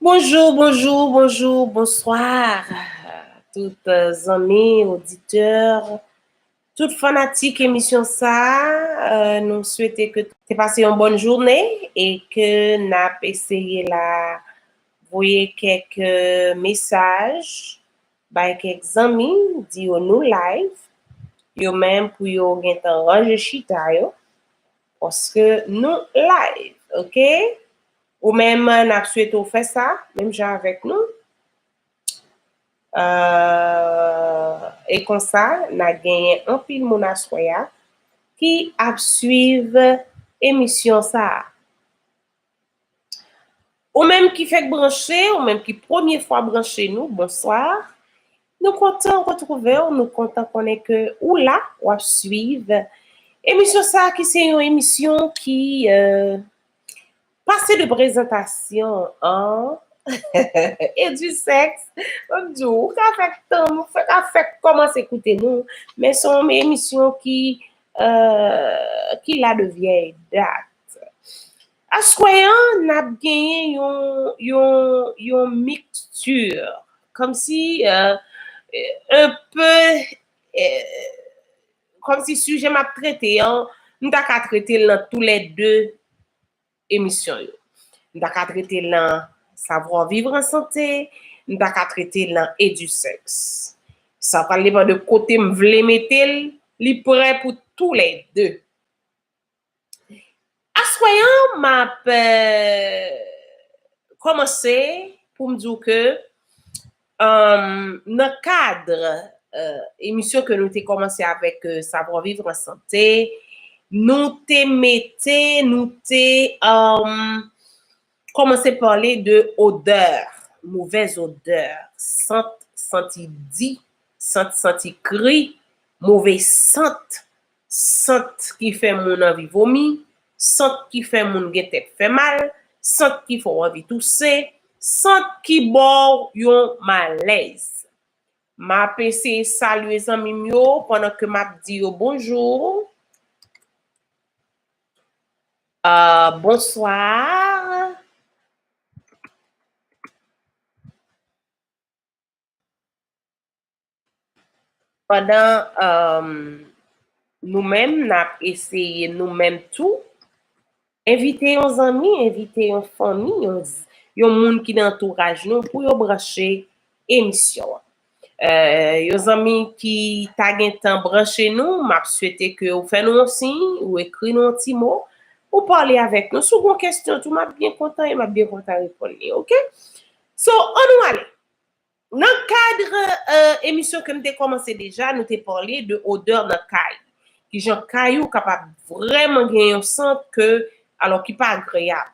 Bonjou, bonjou, bonjou, bonswa tout zanmi, oditè. Tout fanatik emisyon sa nou swete ke te pase yon bòn joune e ke nap eseye la voye kèk mesaj bay kèk zanmi di yo nou live yo menm pou yo gentan ranje chita yo paske nou live ok ou menm nap swete ou fè sa menm jan avèk nou. E konsa, na genyen anpil moun aswè a ki ap swiv emisyon sa a. Ou menm ki fèk branche, ou menm ki premye fwa branche nou, bonswa. Nou kontan retwouve w, nou kontan konnen ke ou la, w ap swiv emisyon sa a ki se yon emisyon ki Pase de prezantasyon an e di sèks, mwen ap di w, ou ka fè tan m, ou ka fè kòmanse koute nou, men se yon emisyon ki la de vyèy dat. Aswè an n ap genyen yon mixture, kòmsi un peu Kòm si sijè m ap trete an, m ta ka trete l nan tou lè de emisyon yo. M ta ka trete l nan Savoir vivre en santé, m ta ka trete l nan Edusex. Sa pral depan de kote m vle mete l, li prè pou tou lè de. Aswè an map kòmanse pou m di w ke nan kadr emisyon ke nou te kòmanse avèk Savoir Vivre en Santé, nou te mete, nou te kòmanse pale de odè, movèz odè, sant santi di, sant santi kri, move sant. Sant ki fè moun anvi vomi, sant ki fè moun gen tèt fè mal, sant ki fè w anvi touse, sant ki ba w yon malèz. M ap eseye salye zanmi m yo pandan ke m ap di yo bonjour, bonsoir, Pandan nou menm n ap eseye nou menm tou, envite yon zanmi, envite yon fanmi, yon moun ki nan antouraj nou pou yo branche emisyon an. Yon zanmi ki ta gen tan branche nou, m ap swete ke ou fè nou yon siy, ou ekri nou yon ti mo, ou pale avèk nou. Si w gon kesyon tou, m ap byen kontan, m ap byen kontan reponn li, ok? So, annou ale! Nan kad emisyon ke m te kòmanse deja, nou te pale de odè nan kay. Kijan kay ou kapab vrèman gen yon sant ke, alò ki pa agreyab.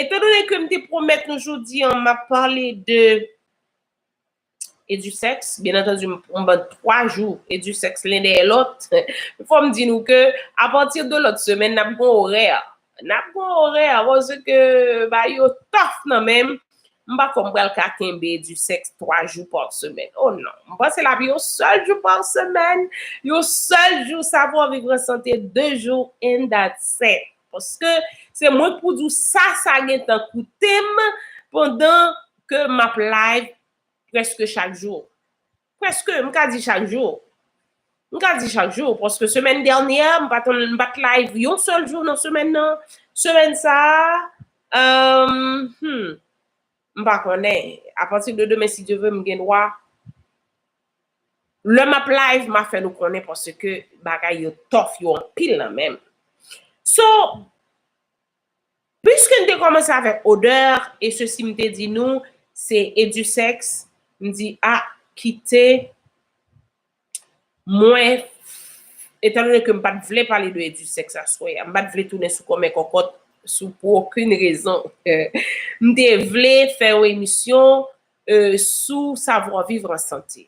Etan done ke m te pwomèt nou jodi an m ap pale de Edusex, byen antandi m ban 3 jou Edusex len dèyè lòt, fò m di nou ke apati de lòt semèn n ap gen yon orè Nap gon orè akoz ke bagay yo tough nan menm, m pa kwè m pral ka kenbe du sexe 3 jou par semaine oh non, m panse l ap yon sèl jou par semaine, yon sèl jou sa pou anvi pran sante 2 jou and that's it paske se mwen k pou di w sa sa gentan koute m pandan ke map live preske chak jou. Prèske, m ka di chak jou. M ka di chak jou, paske semèn dènyè a, m pa t m pa t live yon sèl jou nan semèn nan. Semèn sa a, humm, m pa konnen. Apati de demen si Dye ve, m gen dwa. Lè m ap live, m a fè nou konnen paske bagay yo tough, yo anpil nan men m. So, Puiske n te kòmanse avèk odè e sesi m te di nou se edusèks m di a kite mwen etandone ke m pa t vle pale de edusèks aswè a m pa t vle tounen sou kòmè kòkòt sou pou okin rezon m te vle fè yon emisyon sou savwaviv an sante.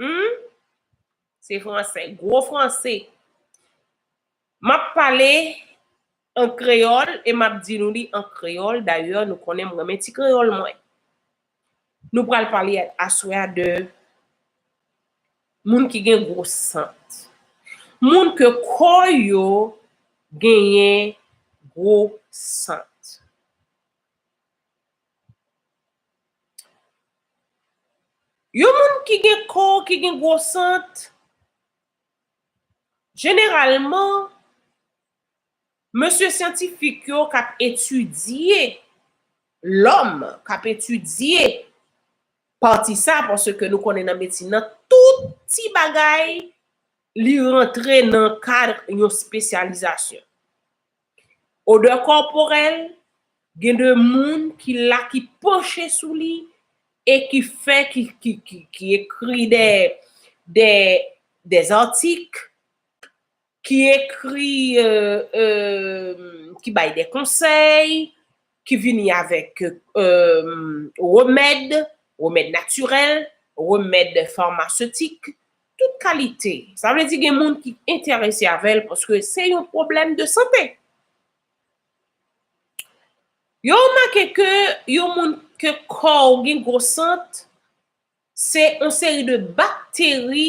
Humm se fransè gwo franse map pale an kreyòl e map di nou li an kreyòl dayè nou konnen m renmen ti kreyòl mwen nou pral pale aswè a de moun ki gen gwo sant moun ke kò yo genyen gwo sant. Yon moun ki gen kò ki gen gwo sant, jeneralman, mesye syantifik yo k ap etidye lòm, k ap etidye pati sa, paske nou konnen nan medsin nan, tout ti bagay li rantre nan kad yon espesyalizasyon. Odè kòporèl, gen de moun ki la ki panche sou li e ki fè ki ekri dè zantik, ki ekri, ki bay dè konsèy. ki vini avèk remèd, remèd natirèl, remèd farmasetik, tout kalite. Sa vle di gen moun ki enterese avè l paske se yon pwoblèm de sante. Yo remake ke yon moun ke kò ou gen gwo sant, se yon seri de bakteri.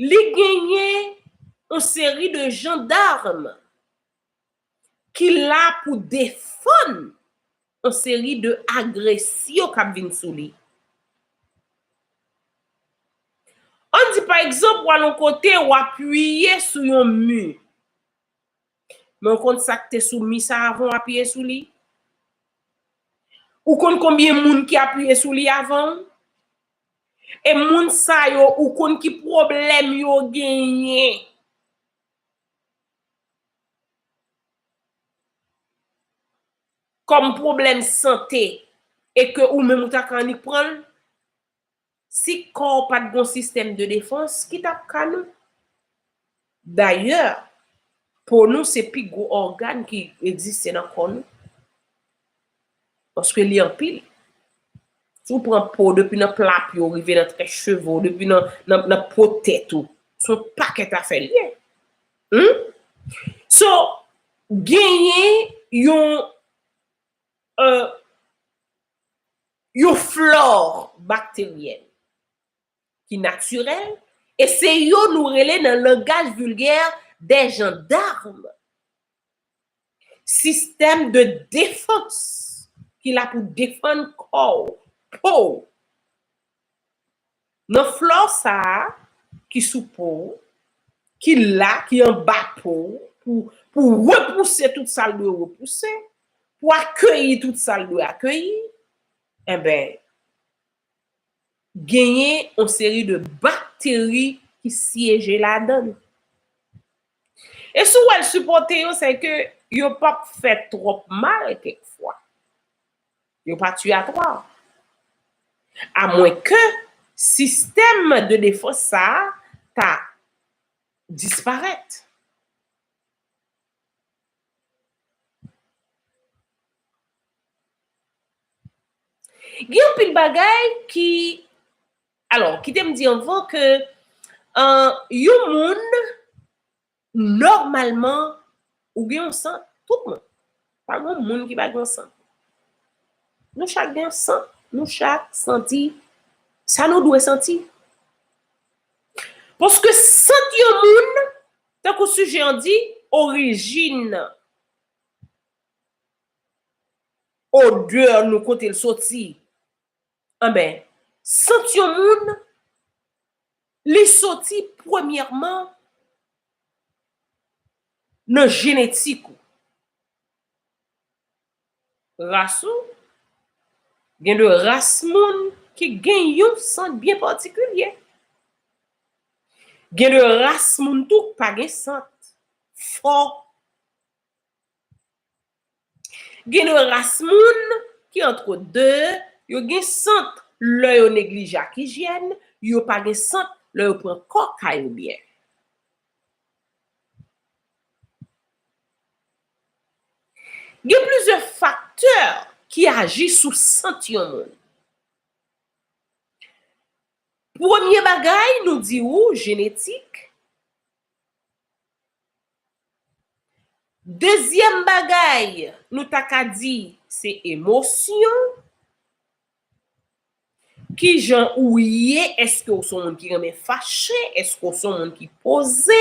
Li genyen yon seri de jandarm ki la pou defann yon seri de agresyon k ap vin sou li. An di pa egzanp ou al yon kote ou apiye sou yon mi, men ou konn sa k te sou mi sa avan ou apiye sou li? Ou konn konbyen moun ki apiye sou li avan ou? E moun sa yo ou konn ki pwoblèm yo genyen. Kòm pwoblèm sante e ke ou menm ou ta ka annik pran l? Si kò w pa t gon sistèm de defans, ki t ap ka nou? Dayè, po nou se pi gwo ògàn ki egziste nan kò nou. Paske li anpil. Si w pran po w depi nan pla pye w rive nan trè cheve w, depi nan po tèt ou, se yon pakèt afè li ye. Hum! So, genyen yon euh yon flore bakteryèn. ki natirèl e se yo nou rele nan langaj vilgè dè jandarm. Sistèm de defans ki la pou defann kò w, po w. Nan flò sa a ki sou po w, ki la, ki anba po w pou repouse tout sa l dwe repouse, pou akeyi tout sa l dwe akeyi, enben, genyen yon seri de bakteri ki syeje ladan l. E si w wè l sipòte yo, se ke yo p ap fè twòp mal kèk fwa. Yo pa tuyatwa. A mwen ke sistèm de defans sa a ta disparèt. Gen yon pil bagay ki, alò, kite m di anvan ke yon moun, nòmalman, ou gen yon sant, tout moun. Pa gen yon moun ki pa gen yon sant. Nou chak gen yon sant. Nou chak santi sa nou dwe santi. Paske sant yon moun. Tankou sijè an di, orijin nan. Odè nou kote l soti. Anben, sant yon moun, li soti premyèman nan jenetik ou. Ras ou? Gen de ras moun ki gen yon sant byen patikilye. Gen de ras moun tou k pa gen sant. Fò. Gen de ras moun ki antre de, yo gen sant lè yo neglije ak ijyèn, yo pa gen sant lè yo pran kò kay ou byen. Gen plizyè faktè ki aji sou sant yon moun. Premye bagay nou di ou jenetik. Dezyèm bagay nou ta ka di se emosyon. Kijan ou ye, eske ou son moun ki renmen fache, eske ou son moun ki poze,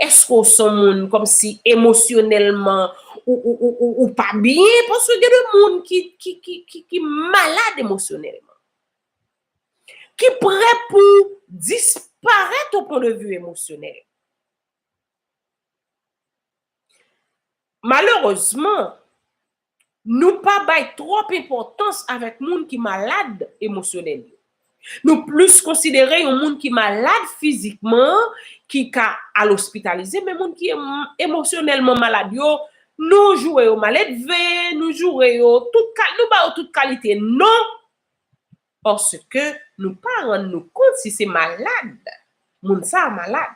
eske ou son moun kòmsi emosyonèlman ou pa byen, paske gen de moun ki malad emosyonèlman, ki prè pou disparèt o pwen de vi emosyonèl. Malerezman. Nou pa bay twòp enpòtans avèk moun ki malad emosyonèl yo. Nou plis konsidere yon moun ki malad fizikman an ki ka al ospitalize men moun ki emosyonèlman malad yo, nou joure yo maledve, nou joure yo tout ka, nou ba yo tout kalite non paske nou pa rann nou kont si se malad moun sa a malad.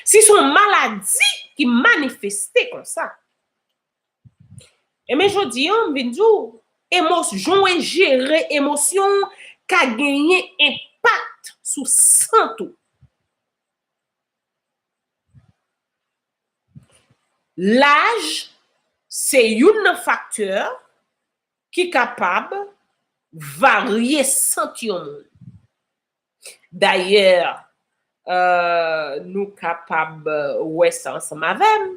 Si se yon maladi ki manifeste konsa. Enben jodi an, m vin di w, emos, jan w jere emosyon w ka genyen enpak sou sant ou. Laj se youn nan faktè ki kapab varye sant yon moun. Dayè, nou kapab wè sa ansanm avè m,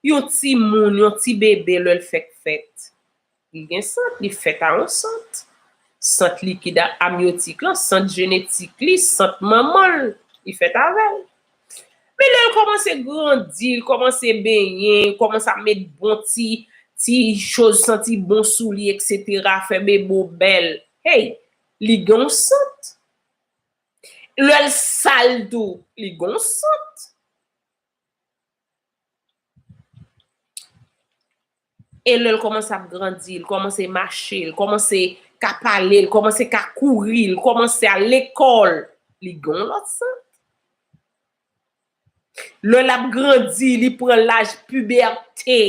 yon timoun, yon ti bebe lè l fèk fèt, li gen sant, li fèt a yon sant. Sant likid ak amyotik lan, sant jenetik li, sant manman l, li fèt avè l. Men lè l kòmanse grandi, l kòmanse benyen, l kòmanse ap met bon ti ti choz santi bon sou li eksetera, fè bebe w bèl, hey! Li gen yon sant. Lè l sal tou, li gen yon sant. E lè l kòmanse ap grandi, l kòmanse mache, l kòmanse ka pale, l kòmanse ka kouri, l kòmanse al lekòl, li gen yon lòt sant. Lè l ap grandi, li pran laj pibète.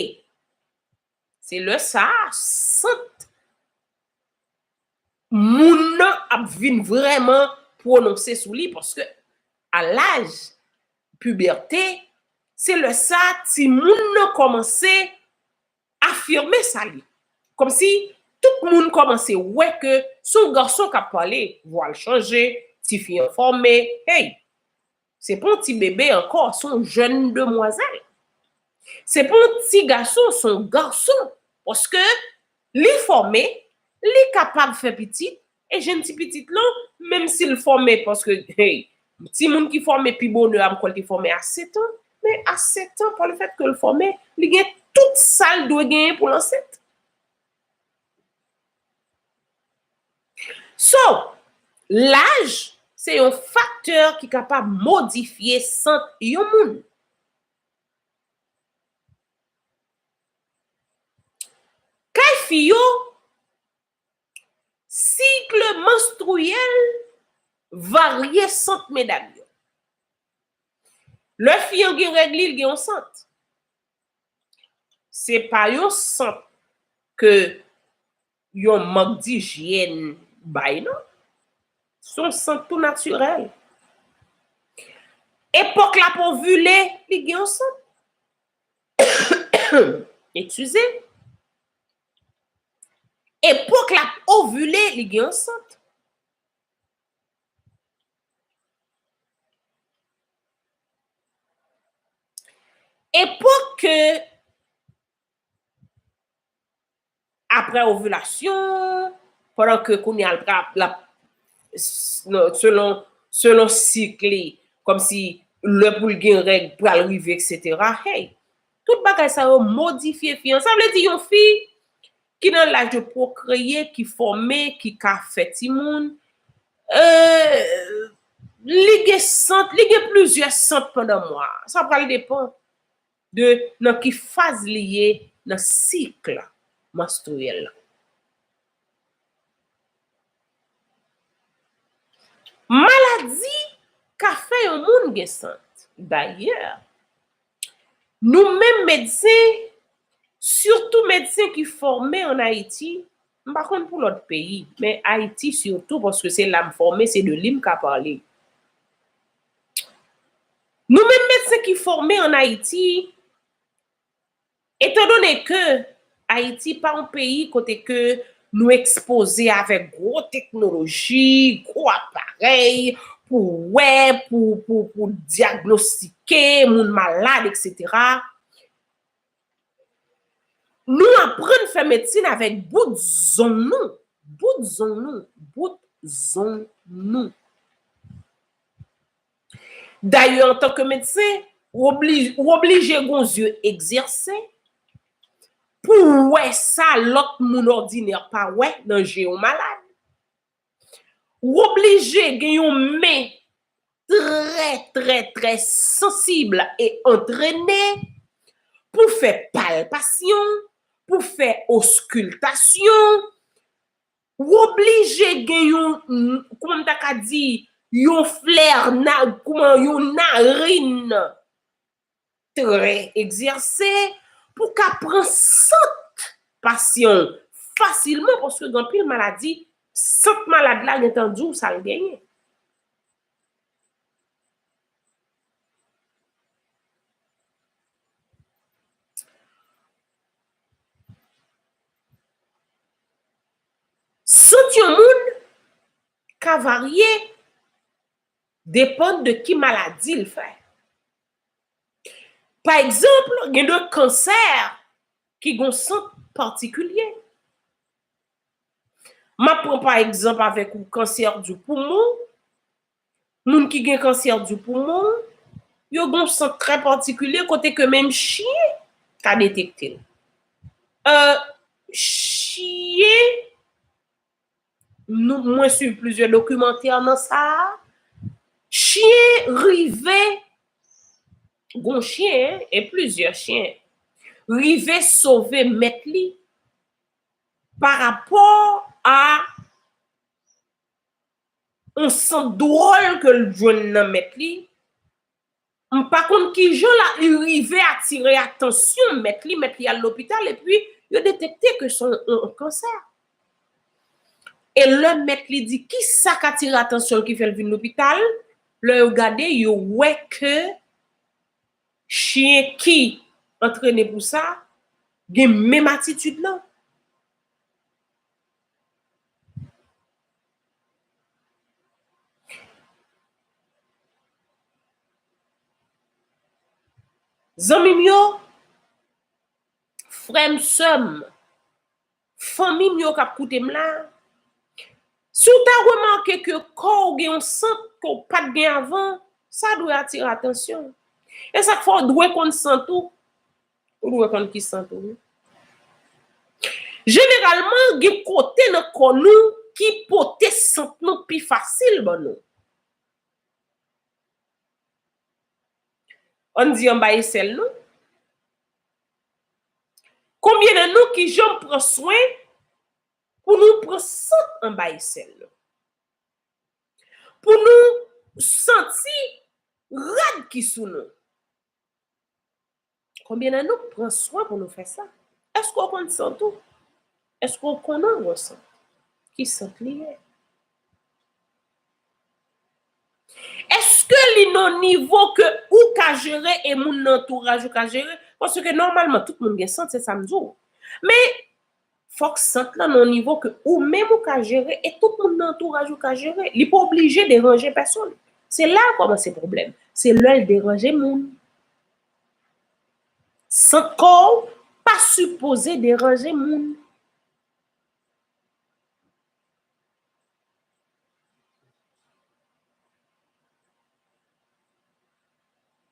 Se lè sa a sant moun nan ap vin vrèman pwononse sou li paske a laj pibète, se lè sa a timoun nan kòmanse afime sa l ye. Kòmsi tout moun kòmanse wè ke se yon gason k ap pale, vwa l chanje, tifi an fòme, hey! Se pa yon ti bebe ankò, se yon jèn demwazèl. Se pa yon ti gason, se yon gason. Paske li fòme, li kapab fè pitit, e jèn ti pitit lan, menm si l fòme, paske, hey, timoun ki fòme pi bonè a m kwè l te fòme a setan, men a setan, pa le fèt ke l fòme, li gen tout sa l dwe genyen pou l ansent. So, laj se yon faktè ki kapab modifye sant yon moun. Kay fi yo, sikl manstriyèl varye sant medam yo. Lè fi an gen règ li, li gen yon sant. Se pa yon sant ke yon mank dijyèn bay non. Se yon sant tou natirèl. Epòk lap ovile, li gen yon sant. Ekskize. Epòk lap ovile, li gen yon sant. Epòk ke apre ovilasyon, pandan ke kounye a l ap, selon sik li, kòm si lè pou l gen règ pral rive eksetera, hey, tout bagay sa yo modifye fi an. Sa vle di yon fi Ki nan laj yo pwokreye, ki fòme, ki ka fè timoun. Li gen sant, li gen plizyè sant pandan mwa. Sa pral depan de nan ki faz li ye nan sik la manstriyèl la. Maladi ka fè yon moun gen sant. Dayè. Nou menm medsen, sitou medsen ki fòme an Ayiti, m pa konn pou lòt peyi, men Ayiti sitou paske se la m fòme, se de li m ka pale. Nou menm medsen ki fòme an Ayiti, Etan done ke Ayiti pa yon peyi kote ke nou ekspoze avèk gwo teknoloji, gwo aparèy pou wè, pou dyagnostike moun malad eksetera, nou aprann fè medsin avèk bout zong nou, bout zong nou, bout zong nou. Dayè antanke medsen, ou oblije gon zye egzèse pou w wè sa lòt moun òdinè pa wè nan je yon malad. Ou oblije gen yon men trè trè trè sansib e antrene pou w fè palpasyon, pou w fè oskultasyon, W oblije gen yon, kouman m ta ka di, yon flè, kouman, yon narin trè egzèse pou w ka pran sant pasyan w fasilman paske gen anpil maladi, sant malad la gen tan di w sa l genyen. Sant yon moun ka varye depann de ki maladi l fè. Pa egzanp, gen de kansè ki gon sant patikilye. M ap pran pa egzanp avèk ou kansè di poumon, Moun ki gen kansè du poumon, yo gen yon sant trè patikilye kote ke menm chyen ka detekte l. Chyen, mwen swiv plizyè dokimantè nan sa a, chyen rive, gon chyen, e plizyè chyen, rive sove mèt li parapò a On sant dwòl ke l jwenn nan mèt li, m pa konn kijan la li rive atire atansyon mèt li, mèt li al lopital epi yo detekte ke son on kansè. E lè mèt li di kisa k atire atansyon l ki fè l vin lopital, lè yo gade yo wè ke chyen ki antrene pou sa gen menm atitid lan. Zanmim yo frèm sèm fanmim yo kap koutem la siw ta remake ke kòw gen yon sant ke w pat gen avan sa dwe atire atansyon esak fè w dwe konn sant ou Ou dwe konn ki sant ou wi. Jeneralman gen kote nan kò nou ki pote sant nou pi fasil ban nou. Ann di anba esèl nou. Konbyen nan nou ki janm pran swen pou nou pran sant anba esèl nou. Pou nou santi rad ki sou nou. Konbyen nan nou k pran swen pou nou fè sa? Èske w konn sant ou? Èske w konnen yon sant? Ki sant li ye? Èske li nan nivo ke ou ka jere e moun nan antouraj ou ka jere? Paske nòmalman tout moun gen sant se sa m di w. Men Fòk sant lan nan yon nivo ke ou menm ou ka jere e tout moun nan antouraj ou ka jere. Li pa oblije deranje pèsonn. Se la a kòmanse pwoblèm. Se lè l deranje moun. Sant kò ou pa sipoze deranje moun.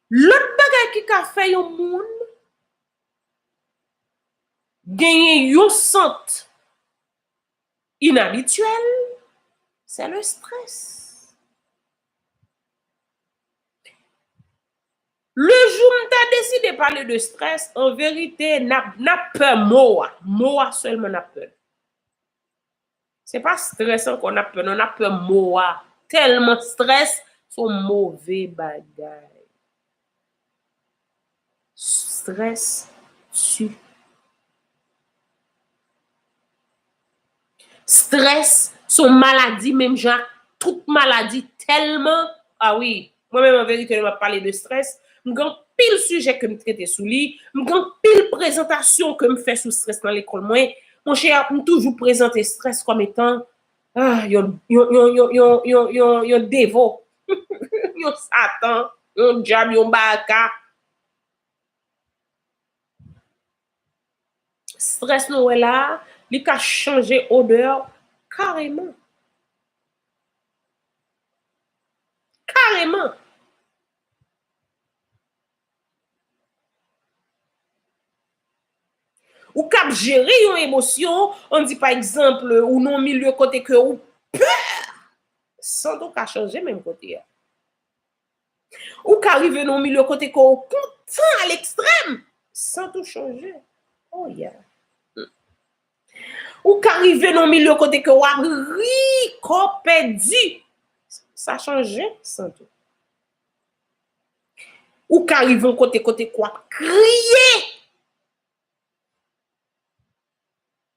Lòt bagay ki ka fè yon moun Genyen yon sant inabityèl, sè le strès. Le jou m ta deside pale de strès, an verite, n ap pè mo a. Mo a sèlman n ap pè. Se pa stress ankò nap pè non nap pè mo a tèlman stress son move bagay stress su stress son maladi menm jan ak tout maladi tèlman a wi Mwen menm anverite lè m ap pale de strès, m gen anpil sijè ke m trete sou li, m gen anpil prezantasyon ke m fè sou strès nan lekòl mwen, monchè m toujou prezante strès kòm etan yon yon devo, yon satan, yon dyab, yon baraka. Strès nou wè la a, li ka chanje odè w kareman. Kareman! Ou kab jere yon emosyon, an di pa egzanp ou nan yon milye kote ke ou pè! San doka chanje menm kote a. Ou ka rive nan yon milye kote ke ou kontan a lekstrèm, san tou chanje. Oh yeah! Ou ka rive nan yon milye kote ke ou ap ri kò w pèdi, sa chanje san tou. Ou ka rive yon kote kote ke ou ap kriye.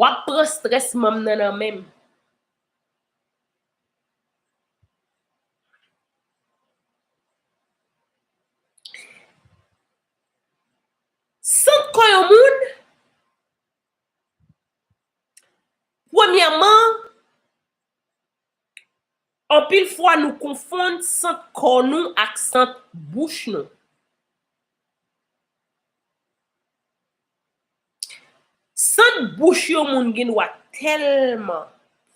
Wap pran strès manm nan nan menm. Sant kò yon moun, premyèman, Anpil fwa nou konfonn sant kò nou ak sant bouch nou. Sant bouch yon moun gen dwa tèlman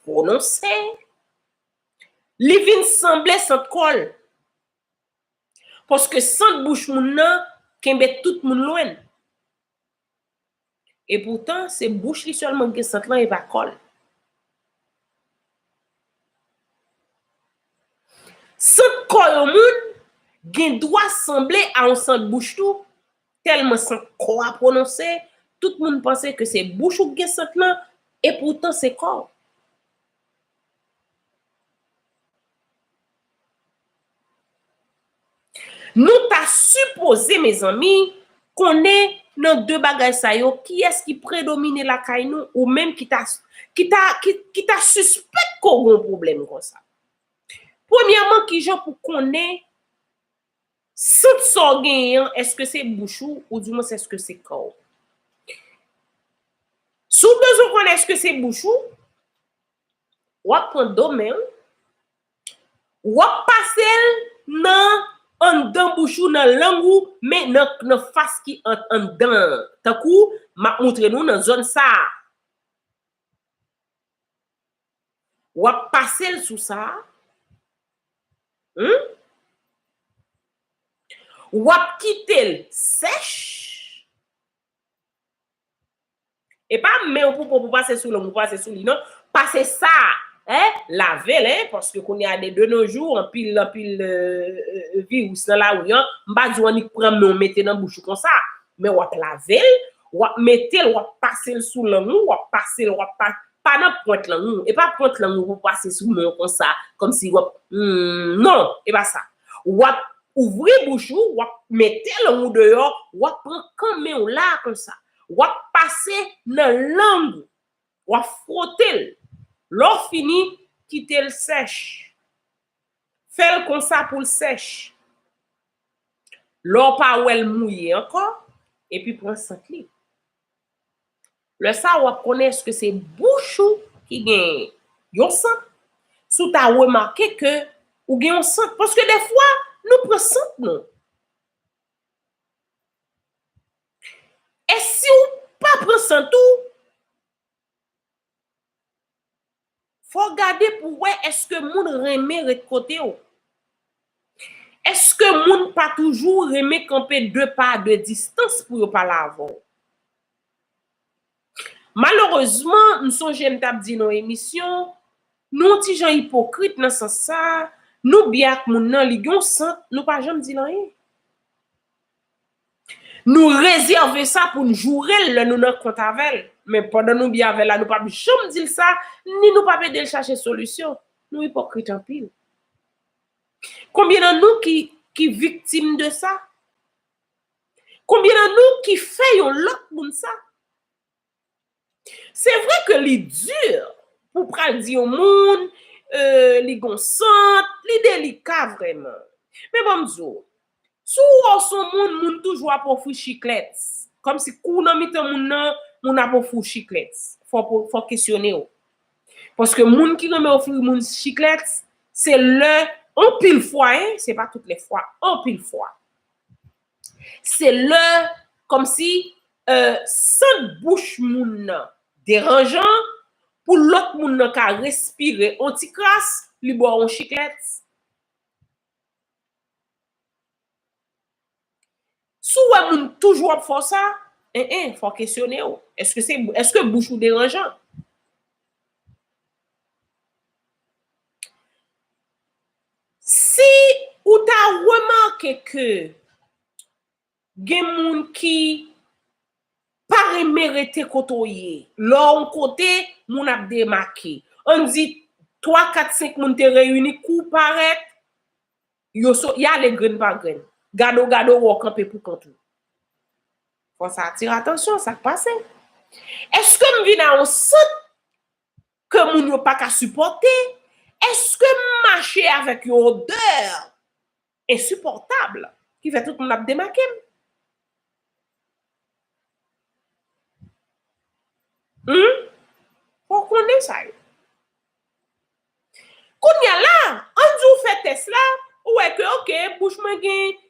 pwononse, li vin sanble sant kò l. Paske sant bouch moun nan kenbe tout moun lwen. E poutan se bouch li sèlman ki gen sant lan e pa kò l. Sant kò yon moun gen dwa sanble a yon sant bouch tou, tèlman sant kò a pwononse, tout moun panse ke se bouch ou ki gen sant lan, e poutan se kò w. Nou ta sipoze mezanmi konnen nan 2 bagay sa yo kiyès ki predomine lakay nou ou menm ki ta ki ta sispèk ke w gen yon pwoblèm konsa. Premyèman kijan pou konnen sant sa w genyen an èske se bouch ou oudimwens èske se kò w. Si w bezwen konnen èske se bouch ou, Wap pran do men wi. Wap pasel nan anndan bouch ou nan lang ou men nan fas ki ant anndan an. Tankou map moutre nou nan zòn sa. Wap pasel sou sa. Humm. Wap kitel sèch. E pa men w pou po pou pase sou lom pou pase sou li non. Pase sa a, hein, lave l hein, paske kounye a de nos jours anpil anpil virus nan lari an, m pa di w annik pran men w mete nan bouch ou konsa, men w ap lave l, w ap mete l, w ap pase l sou lang ou, w ap pase l, w ap pase l, Pa nan pwent lang ou. E pa pwent lang ou pou w pase sou men w konsa, kòmsi w ap, Humm. Non! E pa sa. W ap ouvri bouch ou, w ap mete lang ou deyò, w ap pran kan men w la a konsa. W ap pase nan lang ou. W ap fwote l. Lè w fini, kite l sèch. Fè l konsa pou l sèch. Lè w pa wè l mouye ankò, epi pran sant li. Lè sa a w ap konnen èske se bouch ou ki gen yon sant, si w ta remake ke ou gen yon sant. Paske defwa nou pran sant nou. E si w pa pran sant ou, Fò w gade pou w wè èske moun renmen ret kote w. Èske moun pa toujou renmen kanpe de pa de distans pou yo pale avè w. Malerezman, m sonje m t ap di nan yon emisyon, nou yon ti jan ipokrit nan sans sa, nou byen ak moun nan, li gen yon sant, nou pa janm di l anyen. Nou rezève sa pou n joure l lè nou nan kont avè l. Men pandan nou byen avè l la nou pap janm di l sa, ni nou pap ede l chache solisyon. Nou ipokrit anpil. Konbyen nan nou ki viktim de sa? Konbyen nan nou ki fè yon lòt moun sa? Se vre ke li dur pou pral di yon moun li gon sant, li delika vreman. Men banm di w, si w wè w son moun, moun toujou ap ofri chiklets. Kom si kou w nan mitan moun nan, moun ap ofri w chiklets. Fok w kesyone w. Paske moun ki renmen ofri moun chiklets, se lè anpil fwa, se pa tout le fwa, anpil fwa. Se lè kòm si sant bouch moun nan deranjan pou lòt moun nan ka respire on ti kras li ba w on chiklèt. Si w wè moun toujou ap fè w sa, en en fò w kesyone w, èske bouch ou deranjan? Si ou ta remake ke gen moun ki pa renmen rete kote w ye, lè w kote moun ap demake, an di 3, 4, 5 moun te reyini kou w parèt, yo sot, y ale grenn pa grenn. Gade w gade w wè w kanpe pou kont ou. Fò sa atire atansyon, sa k pase? Eske m vin a yon sant? Ke moun yo pa ka sipòte. Eske mache avèk yon odè ensipòtab ki fè tout moun ap demake m? Hum? Fò w konnen sa yo. Kounya la, an n di w fè tès la, ou wè ke ok, bouch mwen gen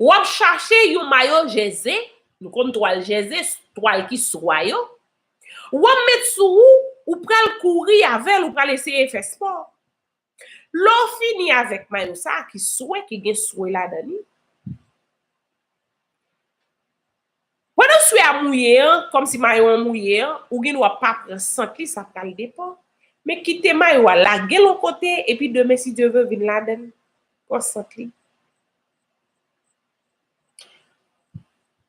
Wap chache yon mayo jèze, nou konn twal jèze, twal ki swa yo, wap met sou ou, ou pral kouri avèl, ou pral eseye fè spò. Lè w fini avèk mayo sa ki swe, ki gen swe ladan li, Pandan swe a mouye an, kòmsi mayo an mouye an, ou gen dwa pa pran sant li, sa pral depan. Men kite mayo a, lage l on kote, epi demen si Dye ve vin ladan l, pran sant li.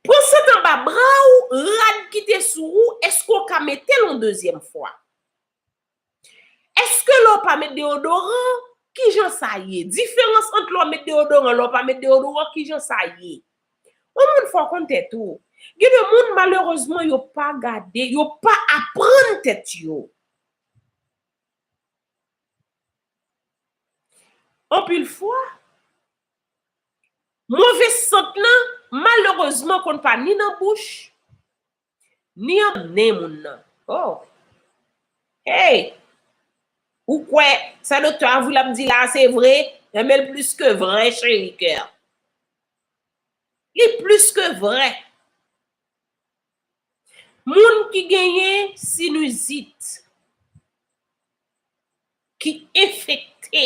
Pran sant anba bra ou, rad ki te sou ou, èske ou ka mete l on dezyèm fwa? Eske lè w pa met deodoran, kijan sa ye? Diferans ant lè w met deodoran e lè w pa met deodoran, kijan sa ye? Yon moun fò w konn tèt ou. Gen de moun malerezman yo pa gade, yo pa aprann tèt yo. Anpil fwa, move sant lan malerezman konn pa ni nan bouch, Ni yon nen moun nan. Oh! Hey! Ou kwè, sa Doktè Avril ap di la a se vre? Renmen l plis ke vrè cheri kè. Li plis ke vrè. Moun ki genyen sinizit, ki enfekte.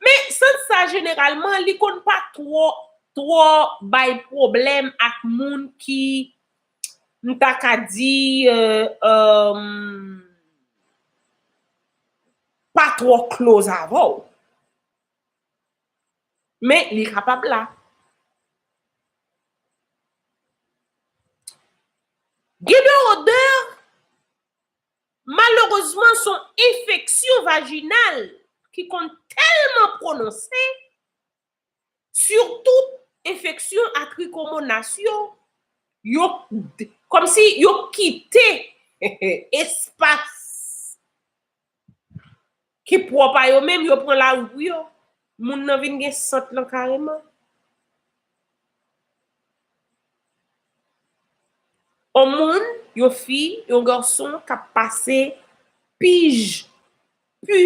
Men, sant sa jeneralman, li konn pa twò, twò bay pwoblèm ak moun ki, m ta ka di, pa twò close avè w. Men, li kapab la. Gen de odè. Malerezman s on enfeksyon vajinal ki konn tèlman pwononse, sitou enfeksyon a trikomonas yo, yo kòmsi yo kite espas. Ki pwòp a yo menm, yo pran lari pou yo. Moun nan vin gen sant lan kareman. On moun, yon fi, yon garson k ap pase pij pu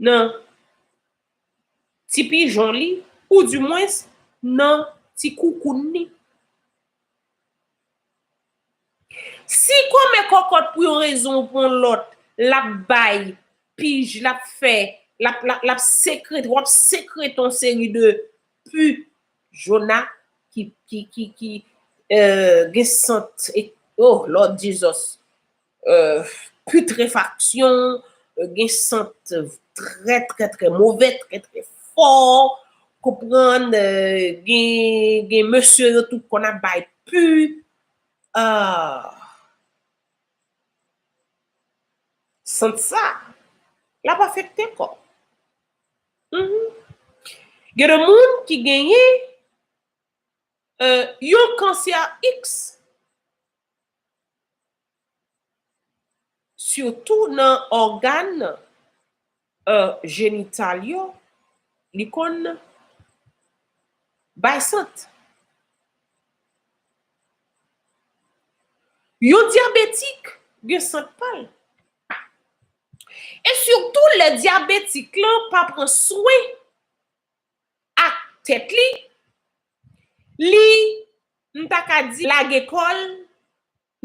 nan ti pijon li ou di mwens nan ti koukoun li. Si kòmè kòkòt pou yon rezon ou pou yon lòt, l ap bay, pij, l ap fè, l ap, l ap sekrete, w ap sekrete yon seri de pu jona ki, ki, ki, ki, eh, gen sant, oh lòd jizòs. putrefaksyon, gen sant trè trè trè move, trè trè fò, konprann, gen mesye yo tou konn ap bay pu, aah, sant sa, lap afekte kò, humm, gen de moun ki genyen yon kansè iks. Sitou nan ògàn jenital yo, li konn bay sant. Yon dyabetik gen sant pa l. E sitou lè dyabetik lan pa pran swen ak tèt li, li, m ta ka di lage kò l,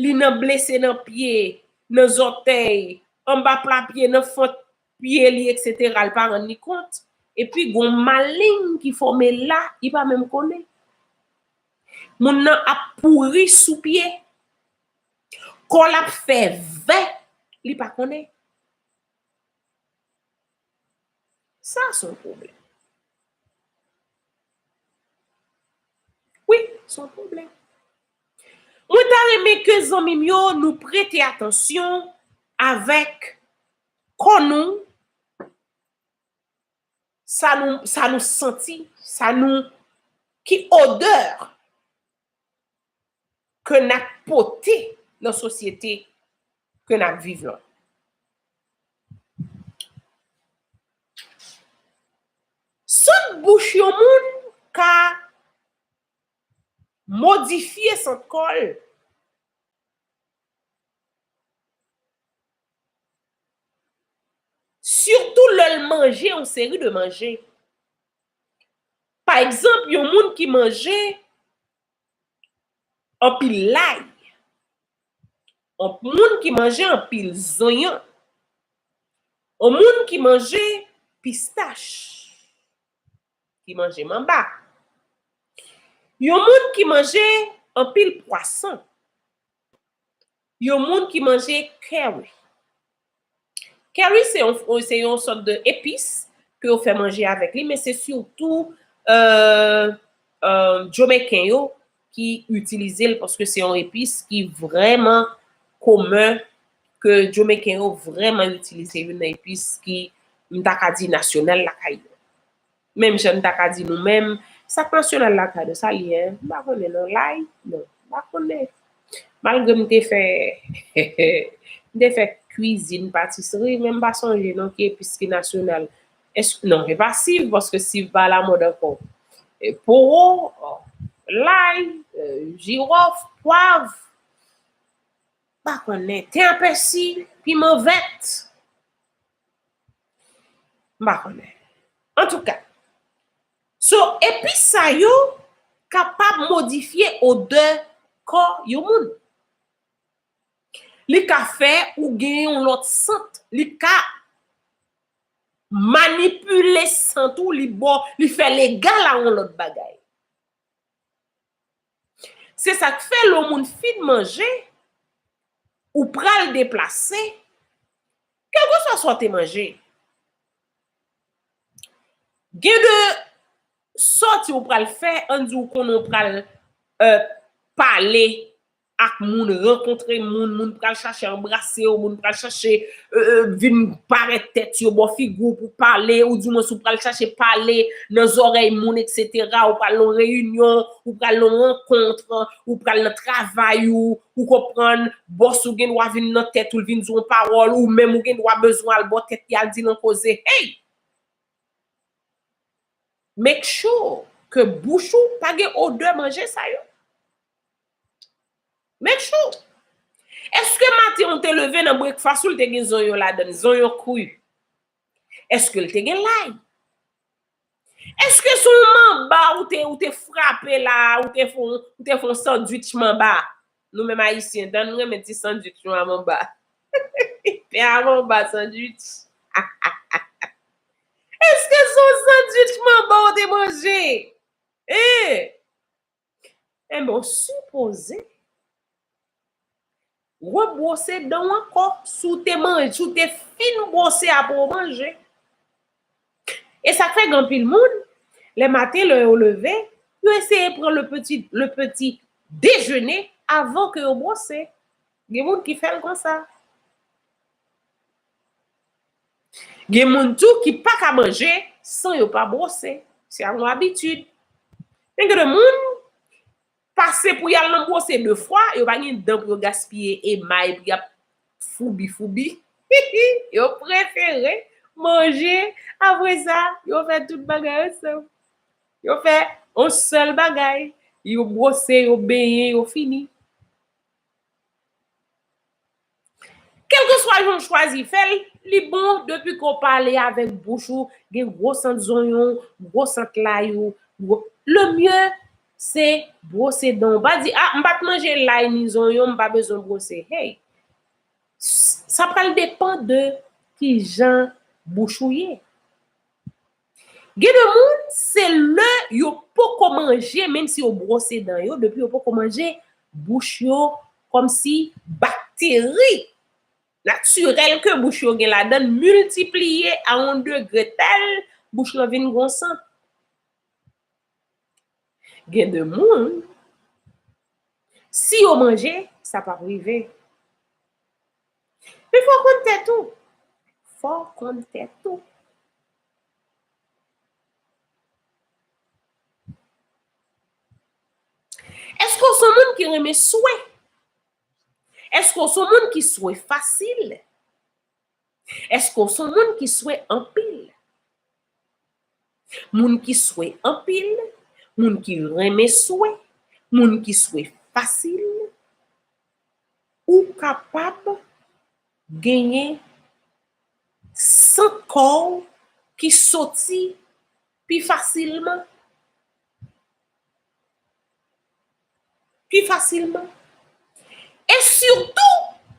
li nan blese nan pye, nan zòtèy, anba pla pye, nan fant pye li eksetera li pa rann li kont, epi gon maleng ki fòme la li pa menm konnen. Moun nan ap pouri sou pye, kò l ap fè vè li pa konnen. Sa son pwoblèm. Wi, son pwoblèm. Mwen ta renmen ke zanmi m yo nou prete atansyon avèk kò nou, sa nou, sa nou santi, sa nou, ki odeur. ke n ap pote nan sosyete ke n ap viv lan. Sant bouch yon moun ka modifye sant kò l. Sitou lè l manje yon seri de manje. Pa egzanp, yon moun ki manje Anpil lay. On moun ki manje anpil zonyon. On moun ki manje pistach. Ki manje manba. Yon moun ki manje anpil pwason. Yon moun ki manje curry. Curry se yon se yon sòt de epis ke yo fè manje avèk li men se sitou Jomeken yo ki itilize l paske se yon epis ki vrèman komen ke Jomeken yo vrèman itilize. Youn nan epis ki m ta ka di nasyonal lakay yo. Menm jan n ta ka di nou menm, sak nasyonal la ta nou, sa l ye? M pa konnen non, lay? Non, m pa konnen. Malgre m te fè, m te fè kwizin, patisri, men m pa sonje non ki epis ki nasyonal. Èske, non, e pa siv, paske siv pa alamòd ankò. Powo, lay, jiròf, pwav, m pa konnen. Ten a pèsi, piman vèt. M pa konnen. Antouka, so epis sa yo kapab modifye odè kò yon moun. Li ka fè ou gen yon lòt sant, li ka manipile sant ou, li fè l egal a yon lòt bagay. Se sa k fè lè yon moun fin manje, ou pral deplase, kèlkeswa sa w te manje, gen de sòti ou pral fè, ann di ou konnen ou pral pale ak moun rankontre moun moun pral chache anbrasew moun pral chache vin parèt tèt yo bò figiw pou pale ou di mwens ou pral chache pale nan zòrèy moun etc ou pral nan yon reyinyon ou pral nan yon rankontre ou pral nan travay ou ou konprann bòs ou gen dwa vin nan tèt ou vin di yon pawòl ou menm ou gen dwa bezwen al bò tèt li al dil yon koze hey make sure ke bouch ou pa gen odè manje sa yo. Make sure! Eske maten ou te leve nan breakfast ou te gen zonyon ladann, zonyon kri? Eske li te gen lay? Eske se yon manba ou te ou te frape la a, ou te fè yon ou te fè yon sandwich manba? Nou menm ayisyen dan nou renmen ti sandwich nou a manba. Pen a manba sandwich. Eske se yon sandwich manba ou te manje? Hein! Enben w sipoze rebwose dan w ankò si w te manje, si w te fin bwose apre w manje. E sa k fè gen anpil moun, le maten lè yo leve, yo eseye pran le peti, le peti dejene avan ke yo bwose. Gen moun ki fè l konsa. Gen moun tou ki pa ka manje san yo pa bwose, se yon abitid. Men gen de moun, pase pou y al nan bwose de fwa, yo pa gen dan pou yo gaspiye emay pou y ap foubi foubi. Yo prefere manje, apre sa, yo fè tout bagay ansanm. Yo fè yon sèl bagay, yo bwose, yo benyen, yo fini. Kelkeswa jan w chwazi fè l, li bon depi ke w pale avèk bouch ou, gen gwo sant zonyon w, gwo sant lay ou, gwo, le mieux se bwose dan w. Pa di ah m pa t manje lay ni zonyon m pa bezwen bwose. Hey! Sa pral depan de kijan bouch ou ye. Gen de moun se lè yo poko manje menm si yo bwose dan yo depi yo poko manje bouch yo kòmsi bakteri natirèl ke bouch yo gen ladann miltipliye a yon degre tèl bouch lan vin gon sant. Gen de moun si yo manje sa pap rive. Pi fò konn tèt ou. Fò konn tèt ou. Èske ou son moun ki renmen swe? Èske ou son moun ki swe fasil? Èske ou son moun ki swe anpil? Moun ki swe anpil, moun ki renmen swe, moun ki swe fasil. Ou kapab genyen sant kò w ki soti pi fasilman. Pi fasilman. E sitou,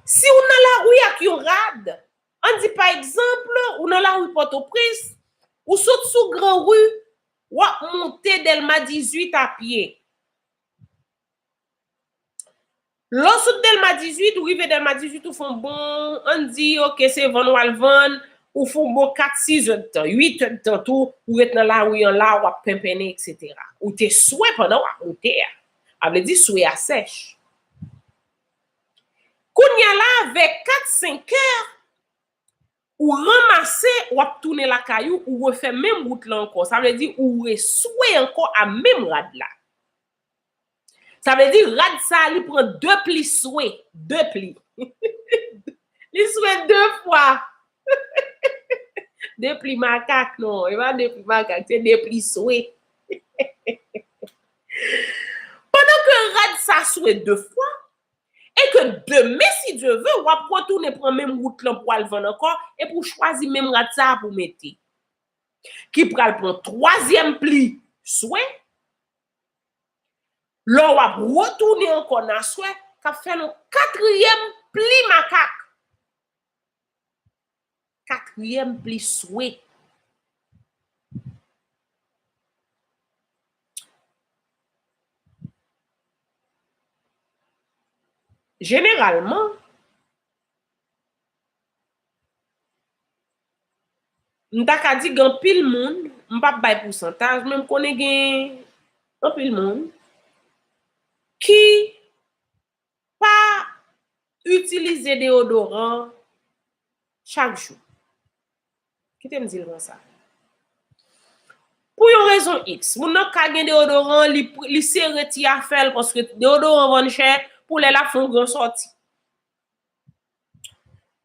si w nan lari ak yon rad, an di pa egzanp, ou nan lari Pòtoprens, ou sot sou Gran Ri, w ap monte Dèlma 18 a pye. Lè w sot Dèlma 18, ou rive Dèlma 18, ou fè yon bon, an n di ok se vann w al vann, ou fè yon bon kat sizèdtan, uitèdtan tou, ou ret nan lari an la, w ap penpennen eksetera. Ou te swe pandan w ap moute a. A vle di swe a sèch. Kounya la a, vè kat senkè, ou ranmase, w ap tounen lakay ou, ou refè menm wout lan ankò. Sa vle di ou reswe ankò a menm rad la. Sa vle di rad sa li pran de pli swe, de pli. Li swe de fwa. De pli makak non, e pa de pli makak, se de pli swe. Pandan ke rad sa swe de fwa, e ke demen si Dye ve, w ap retounen pran menm wout lan pou al vann ankò, epi w chwazi menm rad sa pou mete. Ki pral pran twazyèm pli swe, Lò w ap retounen ankò n aswè, k ap fè nou katriyèm pli makak. Katriyèm pli swe. Jeneralman. M ta ka di gen anpil moun, m pap bay pousantaj men m konnen gen anpil moun ki pa itilize deyodoran chak jou. Kite m di l konsa. Pou yon rezon iks, moun nan ka gen deyodoran, li sere ti afè l paske deyodoran vann chè pou lè l ap fè yon gran sòti.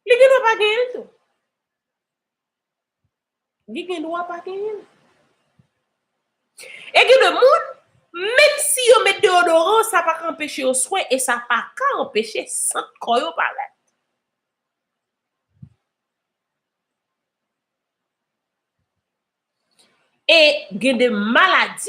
Li gen dwa pa genyen l tou. Li gen dwa pa genyen l. E gen de moun, menm si yo met deyodoran, sa pa ka anpeche yo swe e sa pa ka anpeche sant kò yo parèt. E gen de maladi.